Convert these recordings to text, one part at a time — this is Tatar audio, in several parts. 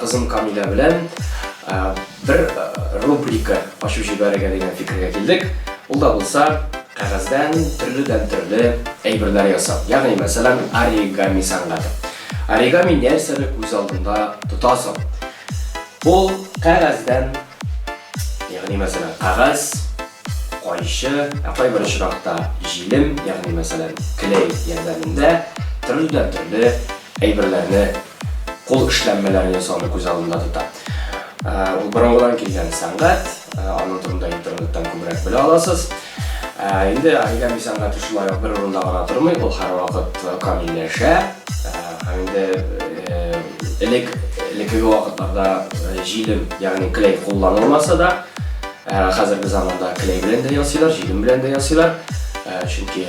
Кызым Камилә белән бер рубрика ачып җибәрергә дигән фикергә килдек. Ул да булса, кәгазьдән төрледән-төрле әйберләр ясау, ягъни, мәсәлән, оригами сәнгате. Оригами нәрсәне күз алдында тота соң? Ул кәгазьдән, ягъни, мәсәлән, кәгазь, кайчы, ә кайбер очракта җилем, ягъни, мәсәлән, клей ярдәмендә төрледән-төрле әйберләрне кул эшләнмәләрен ясауны күз алдында тота. Ул борынгыдан килгән сәнгать, аның турында интернеттан күбрәк белә аласыз. Инде оригами сәнгате шулай ук бер урында гына тормый, ул һәрвакыт камилләшә. Һәм инде элек элеккеге вакытларда җилем, ягъни клей кулланылмаса да, Хәзерге заманда клей белән дә ясыйлар, җилем белән дә ясыйлар. Чөнки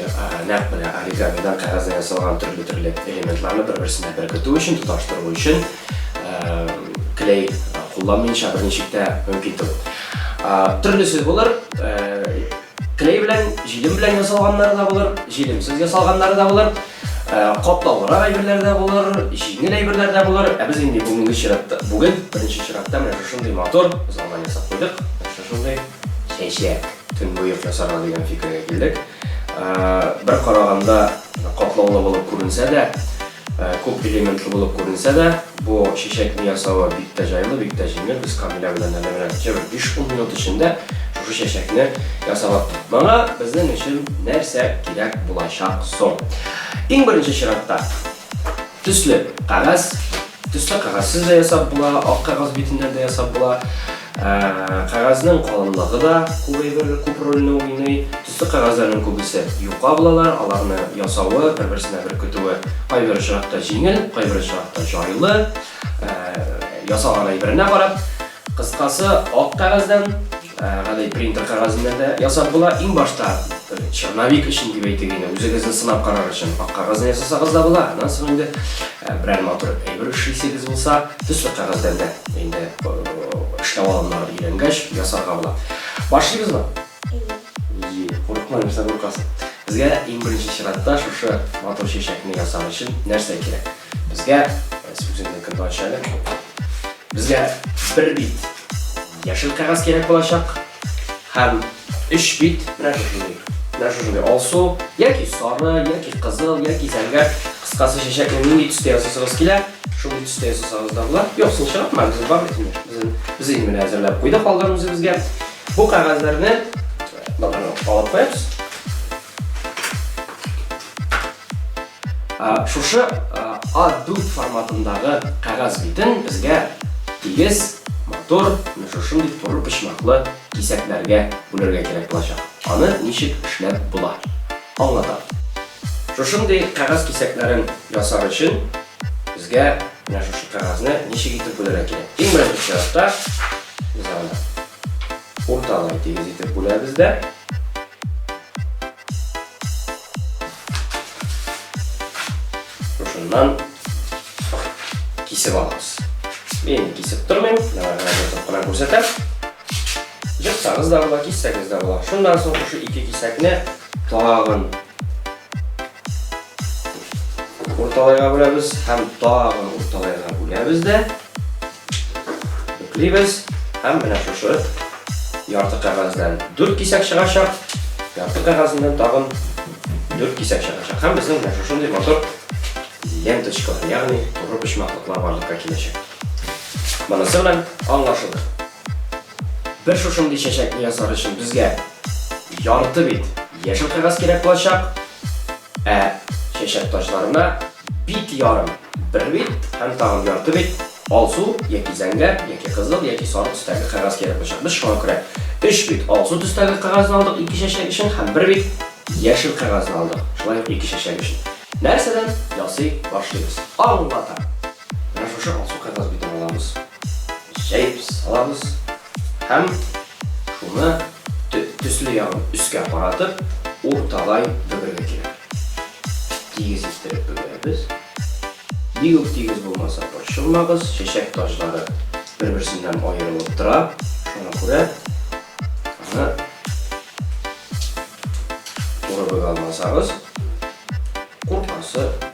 нәкъ менә оригамидан кәгазьдә ясалган төрле-төрле элементларны бер-берсенә беркетү өчен, тоташтыру өчен клей кулланмыйча берничек тә мөмкин түгел. Төрлесе булыр. Клей белән, җилем белән ясалганнары да булыр, җилемсез ясалганнары да булыр. Ә, катлаулырак әйберләр дә булыр, җиңел әйберләр дә булыр. Ә без инде бүгенге чиратта, бүген беренче чиратта менә шушындый мотор залдан ясап куйдык. Шушындый чәчәк төнбоек ясарга дигән фикергә килдек. Ә, бер караганда катлаулы булып күренсә дә, ә, күп элементлы булып күренсә дә, Бу чәчәкне ясавы бик тә җайлы, бик тә җиңел. Без Камилә белән әле менә тикә бер биш-ун минут эчендә шушы чәчәкне ясап аттык. Моңа безнең өчен нәрсә кирәк булачак соң? Иң беренче чиратта, төсле кәгазь. Төсле кәгазьсез дә ясап була, ак кәгазь битеннән дә ясап була. Кәгазьнең калынлыгы да күп әйбер, күп рольне уйный. Төсле кәгазьләрнең күбесе юка булалар, аларны ясавы, бер-берсенә беркетүе кайбер очракта җиңел, кайбер очракта җайлы, ясаган әйберенә карап. Кыскасы, ак кәгазьдән, гади принтер кәгазеннән дә ясап була. Иң башта, черновик өчен дип әйтик инде, үзегезне сынап карар өчен ак кәгазьдән ясасагыз да була, аннан соң инде берәр матур әйбер эшлисегез булса, төсле кәгазьдән дә инде эшләү алымнары өйрәнгәч ясарга була. Башлыйбызмы? Әйе. Әйе, курыкма, нәрсә куркасың. Безгә иң беренче чиратта шушы матур чәчәкне ясар өчен нәрсә кирәк? Безгә сүземне көнтә ачале. Безгә бер бит яшел кәгазь кирәк булачак һәм өч бит менә шушындый. Менә шушындый алсу, яки сары, яки кызыл, яки зәңгәр кыскасы чәчәкне нинди төстә ясасагыз килә, шундый төстә ясасагыз да була. Юк, син чыгартма, безнең бар бит инде. Без инде менә әзерләп куйдык алдан үзебезгә. Бу кәгазьләрне аларны алып куябыз. Шушы A4 форматындагы кәгазь битен безгә тигез, матур, менә шушындый туры почмаклы кисәкләргә бүләргә кирәк булачак. Аны ничек эшләп була? Аңлатам. Шушындый кәгазь кисәкләрен ясар өчен безгә менә шушы кәгазьне ничек итеп бүләргә кирәк. Иң беренче чиратта без аны урталай тигез итеп бүләбез дә шушыннан кисеп алабыз. Мин кисеп тормыйм, кына күрсәтәм. Җырсагыз да була, киссәгез дә була. Шуннан соң шушы ике кисәкне Тагын. Урталайга бүләбез һәм тагын урталайга бүләбез дә. Бүклибез һәм менә шушы ярты кәгазьдән 4 кисәк чыгачак. Ярты кәгазеннән тагын 4 кисәк чыгачак. Һәм безнең менә шушындый мотор ленточка, ягъни туры почмаклыклар барлыкка киләчәк. Монысы белән аңлашылды. Бер шушындый чәчәкне ясар өчен безгә ярты бит яшел кәгазь кирәк булачак, ә чәчәк таҗларына бит ярым, бер бит һәм тагын ярты бит алсу яки зәңгәр, яки кызыл, яки сары төстәге кәгазь кирәк булачак. Без шуңа күрә өч бит алсу төстәге кәгазьне алдык ике чәчәк өчен һәм бер бит яшел кәгазьне алдык, шулай ук ике чәчәк өчен. Нәрсәдән ясый башлыйбыз? Аңлатам. Менә шушы алсу кәгазь битен алабыз, җәеп салабыз һәм шуны төсле ягын өскә каратып, урталай бөгергә кирәк. Тигез иттереп бөгерәбез. Бик үк тигез булмаса, борчылмагыз, чәчәк таҗлары бер-берсеннән аерылып тора, шуңа күрә аны туры бөгә алмасагыз, куркасы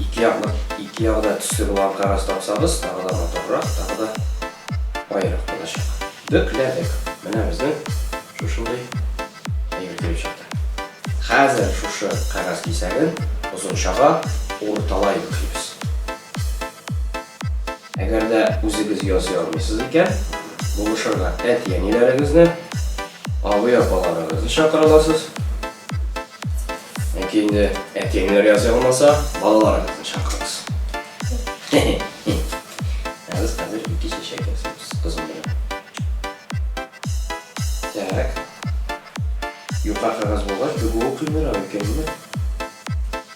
Ике ягына, ике ягына төсле булган кагаз тапсагыз, тагы да матуррак, тагы да баерак булачак. Бөкләдек. Менә безнең шушындый әйбер килеп чыкты. Хәзер шушы кагаз кисәген озынчага урталай бөклибез. Әгәр дә үзегез ясый алмыйсыз икән, булышырга әти-әниләрегезне, абый-апаларыгызны чакыра аласыз. Яки инде әти-әниләр ясый алмаса, балаларыгызны чакырыгыз. Ә без хәзер ике чәчәк ясыйбыз кызым белән. Так. Юка кагаз булгач, тегүе кыенрак икән,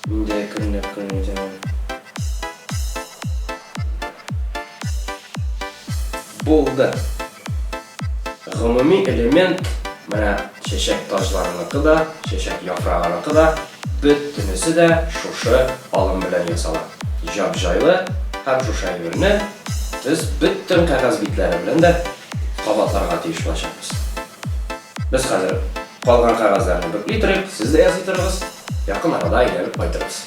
Мин дә әкренләп кенә өйдәмен. Булды. Гомуми элемент, менә чәчәк таҗларыныкы да, чәчәк яфрагыныкы да, бөтенесе дә шушы алым белән ясала. Җап-җайлы һәм шушы әйберне без бөтен кәгазь битләре белән дә кабатларга тиеш булачакбыз. Без хәзер калган кәгазьләрне бөкли торыйк, сез дә ясый торыгыз, якын арада әйләнеп кайтырбыз.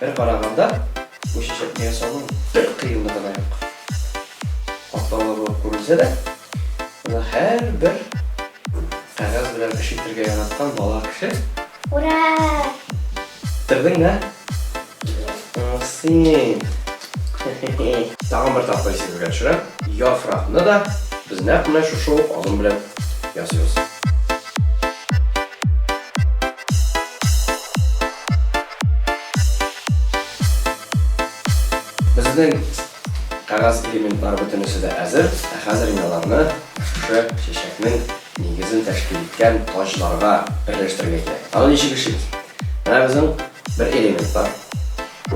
Бер караганда, бу чәчәкне ясаудың бер кыенлыгы да юк. Катлаулы булып күренсә дә, аны һәрбер кәгазь белән эш итергә яраткан бала кеше Ура! Бетердеңме? Син. Тагын бер тапкыр исегезгә төшерәм. Яфракны да без нәкъ менә шушы ук алым белән ясыйбыз. Безнең кагаз элементлары бөтенесе дә әзер, ә хәзер мин аларны шушы чәчәкнең нигезен тәшкил иткән таҗларга берләштерергә кирәк. Аны ничек эшлибез? Менә безнең Бер элемент бар.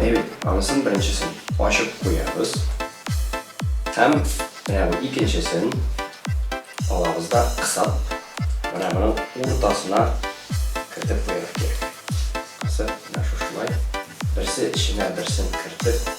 Әйбәт, анысын беренчесен ачып куябыз. Һәм менә бу икенчесен алабыз да кысап, менә моның уртасына кертеп куярга кирәк. Кысып, менә шушылай. Берсе эченә берсен кертеп.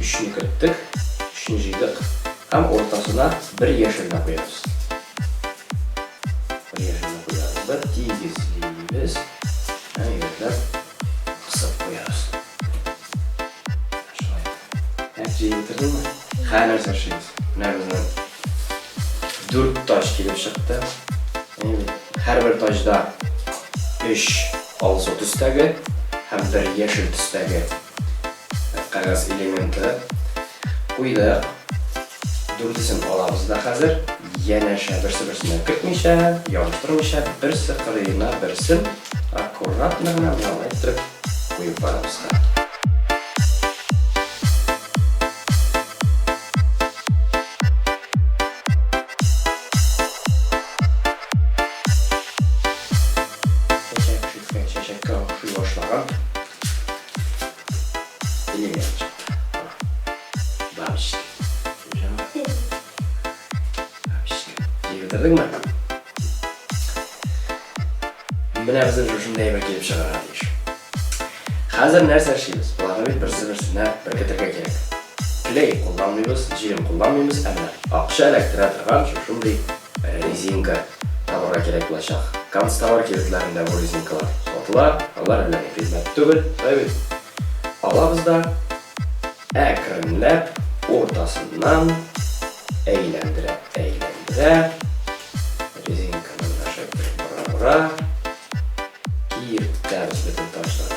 Өчне керттек, өчне җыйдык һәм уртасына бер яшел дә куябыз. Бер яшел дә куябыз да тигезлибез һәм егетләр кысып куябыз. Шулай. Әйт, җыеп бетердеңме? Хәер нәрсә эшлибез. Менә безнең дүрт тач килеп чыкты. Һәрбер тачда өч алсу төстәге һәм бер яшел төстәге. Кәгазь элементы куйдык. Дүртесен алабыз да хәзер. Янәшә берсе-берсенә кертмичә, ябыштырмыйча, берсе кырыена берсен аккуратно гына менә алай иттереп куеп барабыз хәзер. Чәчәккә охшый башлаган. Телем янып чыкты. Бабочка. Бабочка. Дип бетердеңме? Менә безнең шушындый әйбер килеп чыгарга тиеш. Хәзер нәрсә эшлибез? Боларны бит берсе-берсенә беркетергә кирәк. Клей кулланмыйбыз, җирем кулланмыйбыз, әмма акча эләктерә торган шушындый Резинка табырга кирәк булачак. Канцтовар кибетләрендә бу резинкалар сатыла, алар әллә ни кыйммәт түгел, шулай бит? Алабыз да әкренләп уртасыннан әйләндерә-әйләндерә Киертәбез бөтен ташларны.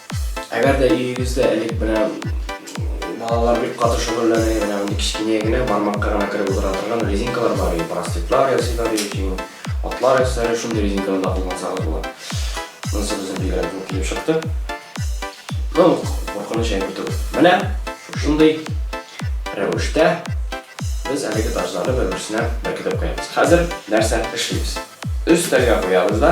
Әгәр дә өегездә элек менә балалар бик каты шөгыльләнә, менә мондый кечкенә генә бармакка гына кереп утыра торган резинкалар бар иде, простыклар ясыйлар иде, чөнки атлар ясыйлар, шундый резинкаларда куллансагыз була. Монысы безнең бигрәк зур килеп чыкты. Ну, куркыныч әйбер түгел. Менә шушындый рәвештә без әлеге ташларны бер-берсенә беркетеп куябыз. Хәзер нәрсә эшлибез? Өстәлгә куябыз да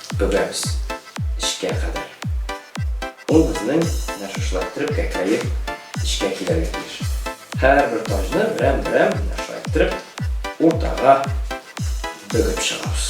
Бөгәбез эчкә кадәр. Ул безнең менә шушылай иттереп кәкрәеп эчкә килергә тиеш. Һәрбер таҗны берәм-берәм менә шулай иттереп уртага бөгеп чыгабыз.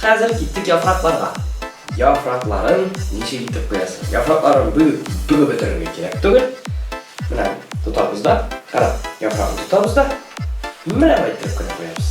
Хәзер киттек яфракларга. Яфракларын ничек итеп куясың? Яфракларын бүлеп, бүгеп бетерергә кирәк түгел. Менә тотабыз да, кара, яфрагын тотабыз да. Менә бай итеп кенә куябыз.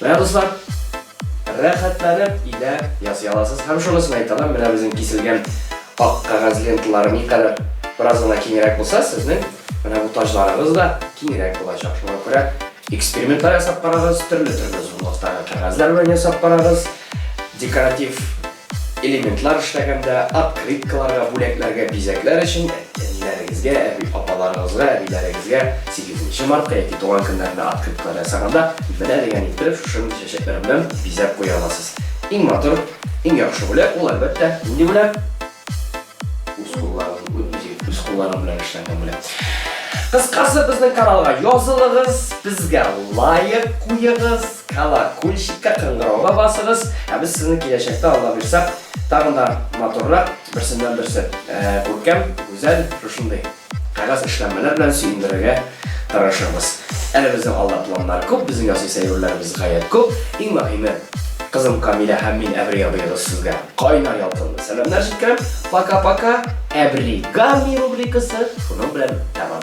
Менә дуслар, рәхәтләнеп өйдә ясый аласыз. Һәм шунысын әйтәләм, менә безнең киселгән ак кәгазь ленталары никадәр бераз гына киңрәк булса, сезнең менә бу таҗларыгыз да киңрәк булачак. Шуңа күрә экспериментлар ясап карагыз, төрле-төрле зурлыктагы кәгазьләр белән ясап карагыз. Декоратив Элементлар эшләгәндә, открыткаларга, бүләкләргә, бизәкләр өчен әниләрегезгә, әби-апаларыгызга, әбиләрегезгә сигезенче мартта яки туган көннәрендә открыткалар ясаганда, менә дигән иттереп шушындый чәчәкләр белән бизәп куя аласыз. Иң матур, иң яхшы бүләк ул, әлбәттә, нинди бүләк? Үз кулларыгыз, үз кулларыгыз белән эшләнгән бүләк. Кыскасы, безнең каналга язылыгыз, безгә лайк куегыз. Колокольчикка кыңгырауга басыгыз, ә без сезне киләчәктә Алла бирсә, тагын да матуррак, берсеннән берсе күркәм, гүзәл, шушындый кәгазь эшләнмәләр белән сөендерергә тырышырбыз. Әле безнең алда планнар күп, безнең ясый сәерүләребез гаять күп. Иң мөһиме, кызым Камилә һәм мин Әбри абыегыз сезгә кайнар ялкынлы сәламнәр җиткерәм. Пока-пока. Әбри Гамми рубрикасы шуның белән тәмам.